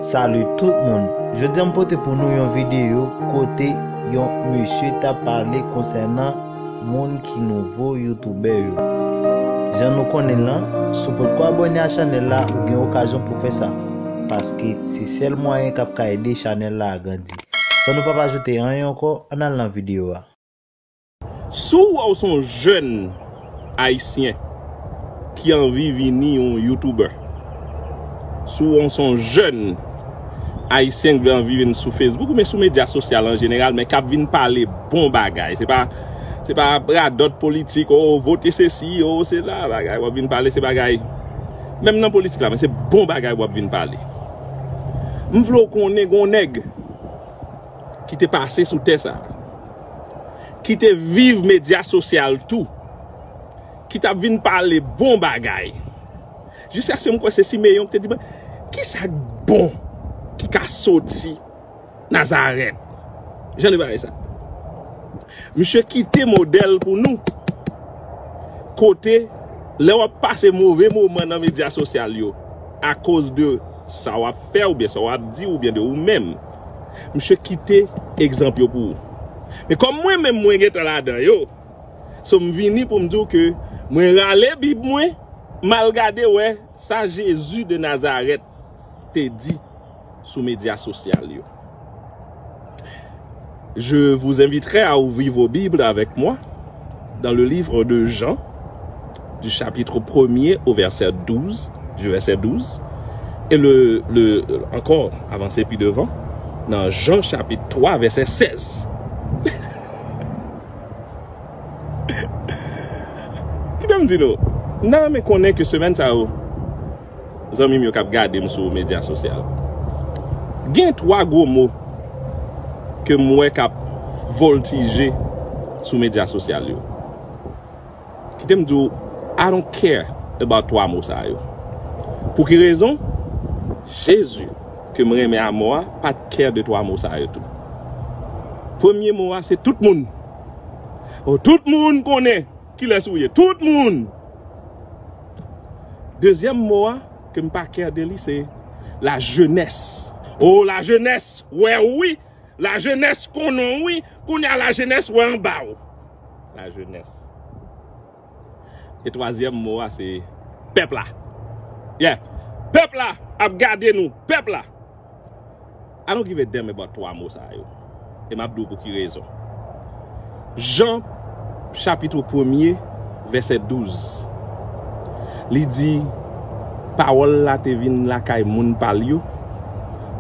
Salut tout moun, jodi an m pote pou nou yon videyo kote yon mesye tap pale konsènan moun ki nouvo youtubè yo. Jan nou konnen lan, si w potko abone a chanèl la ou gen okazyon pou fè sa, paske se sèl mwayen kap ka ede chanèl la agrandi. San nou pap ajoute anyen ankò, ann al nan videyo a. Si w wè w se yon jèn ayisyen ki anvi vini yon youtuber, si w wè w se yon jèn ayisyen ki gen anvi vin sou Facebook oubyen sou medya sosyal an jeneral men kap vin pale bon bagay, se pa se pa radòt politik o vote sesi o sela bagay wap vin pale se bagay menm nan politik la men se bon bagay wap vin pale. M vle w konnen gen yon nèg ki te pase sou tè sa. ki te viv medya sosyal tou, ki t ap vin pale bon bagay. Jiskaske m kwè se Simeyon ki te di, men, ki sa k bon ki ka soti Nazarèt? Jan de bagay sa. Misye kite modèl pou nou, kote lè w ap pase move moman nan medya sosyal yo akoz de sa w ap fè oubyen sa w ap di oubyen de ou menm. Misye kite egzanp yo pou ou. Men kòm mwen menm mwen gentan ladan yo, so m vini pou m di w ke mwen rale bib mwen, m al gade wè sa Jezi de Nazarèt te di sou medya sosyal yo. Je vous inviterai à ouvrir vos bibles avec moi. Dans le livre de Jean, du chapitre premier au verset 12, du verset 12, et le, le, encore avancer plus devant, dans Jean chapitre 3, verset 16. Kidam di nou, nan renmen konnen ke semèn sa yo, zanmim yo kap gadem sou media sosyal gen 3 gwo mo kem wè kap voltije sou media sosyal yo kitem diw I don't care about 3 mo sa yo pou ki rezon Jezi kem renmen a mò a pat care de 3 mo sa yo tou premye mo a se tout moun oh tout moun konnen. Kilès ou ye? Tout moun! Dezyèm mo a ke m pa kè de li se lajenès. O, lajenès wè ou wi! Lajenès konnen w wi! Kounye a lajenès wè anba ou! Lajenès. E twazyèm mo a se pèp la. Yeah! Pèp la ap gade nou! Pèp la! I don't give a damn about 3 mo sa yo. E map di w pou ki rezon. Jan chapitr premye vèsè 12 li di pawòl la te vin lakay moun pa l yo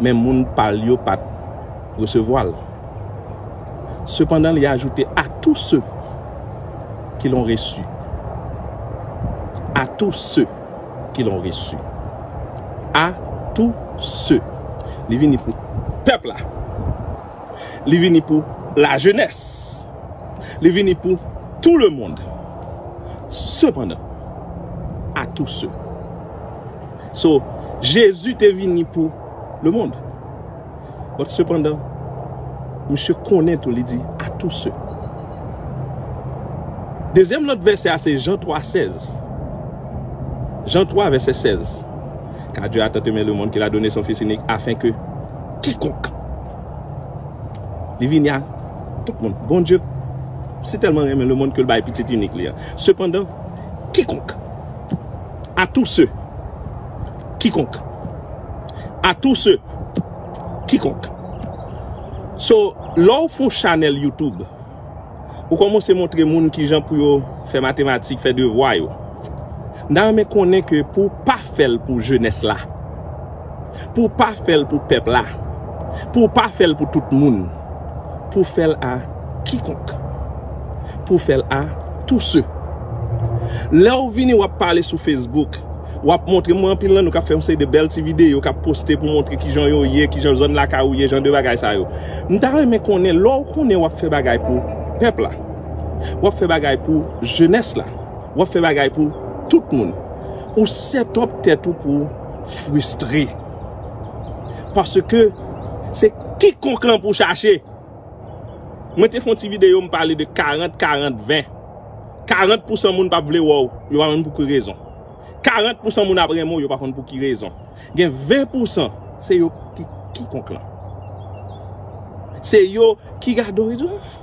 men moun pa l yo pat resevwa l. Sepandan li ajoute a tou se ki lon resu. A tou se. ki lon resi a tou se li vini pou pèp la li vini pou la jenès li vini pou tou le mond sepandan a tou se so jezi te vini pou le mond But sepandan, misye konnen tou li di, a tou se. Dezyèm lòt vèsè a se Jan 3, 16. Jan 3 vèsè 16. Kar Dye a tant eme lemonn ke l a done son Fis inik afen ke kikonk li vini a tout moun. Bondye si tèlman renmen lemonn ke l bay Pitit inik li a. Sepandan, kikonk, a tou se. kikonk. A tou se kikonk. So, lè w fon chanèl YouTube, ou kòmanse montre moun ki jan pou yo fè matematik, fè devwa yo. M ta renmen konnen ke pou w pa fè l pou jenès la, pou w pa fè l pou pèp la, pou w pa fè l pou tout moun. pou fè l a kikonk. Pou fè l a tou se. Lè w vini w ap pale sou Facebook, w ap montre mwen anpil nan nou k ap fè yon seri de bèl ti videyo k ap poste pou montre ki jan yo ye, ki jan zòn lakay ou ye, jan de bagay sa yo. M ta renmen konnen lè w konnen w ap fè bagay pou pèp la, w ap fè bagay pou jenès la, w ap fè bagay pou tout moun, ou set up tèt ou pou w fristre. Paske se kikonk lan pou chache. Mwen te fon ti video m pale de 40, 40, 20. 40 pou san moun pap vle wè w, yo pa konn pou ki rezon. 40 pou san moun ap renmen w, yo pa konn pou ki rezon. Gen 20 pou san, se yo ki kikonk lan. Se yo ki gade w, yo di w.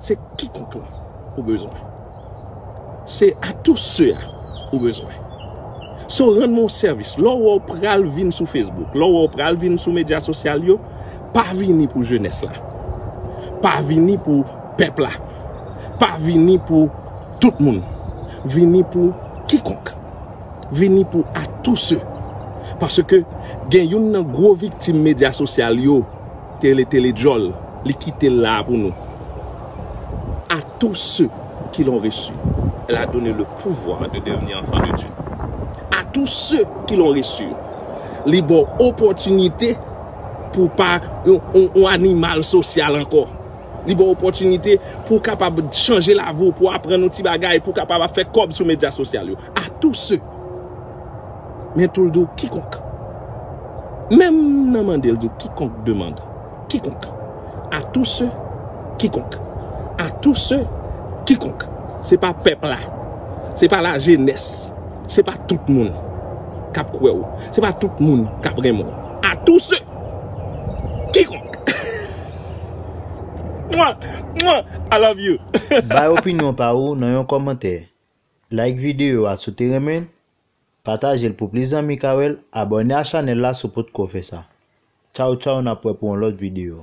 Se kikont lan ou bezwen. Se a tous se a ou bezwen. Se w rann mwen yon sèvis. Lè w wè w pral vin sou Facebook, lè w wè w pral vin sou medya sosyal yo, pa vini pou jenès la. Pa vini pou pèp la. Pa vini pou tout moun. Vini pou kikonk. Vini pou a tous se. Paske gen yon nan gwo viktim medya sosyal yo Tele tele djòl li kite la a pou nou. A tous ceux qui l'ont reçu elle a donne le pouvoir de devenir enfants de Dieu a tous ceux qui l'ont reçu li baw opòtinite pou w pa yon animal sosyal ankò li baw opòtinite pou w kapab chanje lavi w pou w aprann yon ti bagay pou w kapab ap fè kòb sou medya sosyal yo. A tou se. Men tou l di w kikonk. Menm nan mande l di w kikonk demand. Kikonk. A tou se. Kikonk. A tou se. Kikonk. Se pa pèp la. Se pa la jenès. Se pa tout moun. Kap kwe w. Se pa tout moun kap renmen w. A tou se. Kikonk. Mwa! Mwa! I love you. Bay opinyon pa ou nan yon kòmantè. Like video a si w te renmen l, pataje l pou plis zanmi ka wè l, abòne a chanèl la si w potko fè sa. Tchaw tchaw nap wè pou yon lòt video.